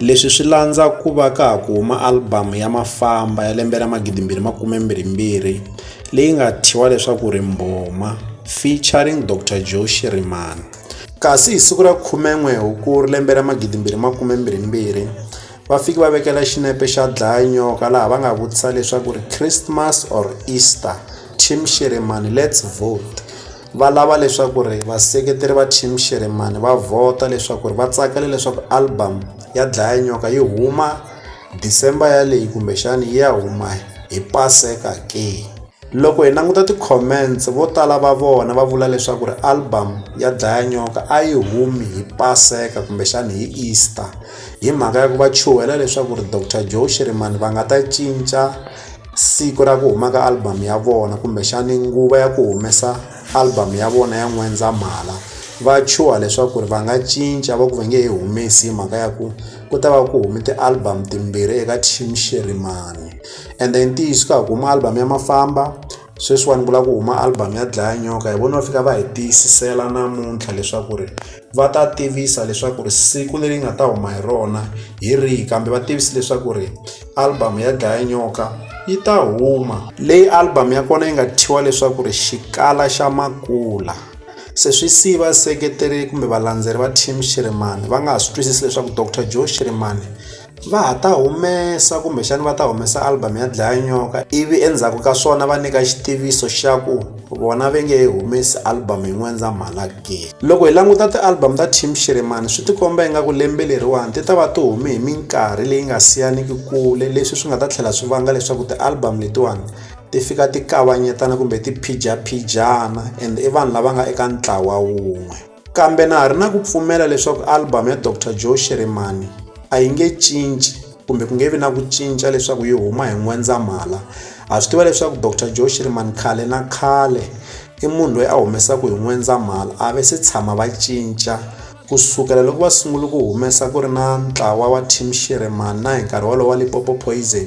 Leswi swi landza ku va ka ha ku huma alibamu ya Mafamba ya lembe ra 2022 leyi nga thyiwa leswaku ri Mbhoma featuring Doctor Joe Shirimani. Kasi hi siku ra 11 Hukuri lembe ra 2022, va fike va vekela xinepe xa dlaya nyoka laha va nga vutisa leswaku ri Christmas or Easter, Team Shirimani let's vote. Va lava leswaku ri vaseketeri va Team Xirhemani va vhota leswaku ri va tsakela leswaku album ya Dlaya Nyoka yi huma December yaleyi kumbexani yi ya huma hi Paseka ke. Loko hi languta ti-comments vo tala va vona va vula leswaku ri album ya Dlaya Nyoka a yi humi hi Paseka kumbexani hi Easter hi mhaka ya ku va chuhela leswaku ri Doctor Joe Xirhemani va nga ta cinca siku ra ku huma ka album ya vona kumbexani nguva ya ku humesa album ya vona ya n'wendzamhala va chuha leswaku ri va nga cinca va ku va nge he humesi hi mhaka ya ku ku ta va ku hume ti-album timbirhi eka team xerimani ende i ntiyiso ka ha ku huma album ya mafamba sweswiwani ku lava ku huma album ya dlaya nyoka hi vona va fika va hi tiyisisela namuntlha leswaku ri va ta tivisa leswaku ri siku leri nga ta huma hi rona hi rihi kambe va tivisi leswaku ri album ya dlaya nyoka yi ta huma leyi album ya kona yi nga thyiwa leswaku ri xikala xa makula se swi siyi vaseketeri kumbe valandzeri va team shirimani va nga ha swi twisisi leswaku dr joe shirimani Va ha ta humesa kumbexana va ta humesa album ya Dlayinyoka ivi endzhaku ka swona va nyika xitiviso xa ku vona va nge humesi album hi N'wendzamhala ke. Loko hi languta ti-album ta Team Shirimani swi tikomba ingaku lembe leriwani ti ta va ti hume hi minkarhi leyi nga siyaniki kule leswi swi nga ta tlhela swi vanga leswaku ti-album letiwani ti fika ti kavanyetana kumbe ti phijaphijaha and i vanhu lava nga eka ntlawa wun'we. Kambe na ha ri na ku pfumela leswaku album ya Dr Joe Shirimani a yi nge cinci kumbe ku nge vi na ku cinca leswaku yi huma hi N'wendzamhala ha swi tiva leswaku Dr Joe Shirimani khale na khale i munhu loyi a humesaka hi N'wendzamhala a ve se tshama va cinca ku sukela loko va sungule ku humesa ku ri na ntlawa wa team Shirimani na hi nkarhi wolowo wa Lipopo Poison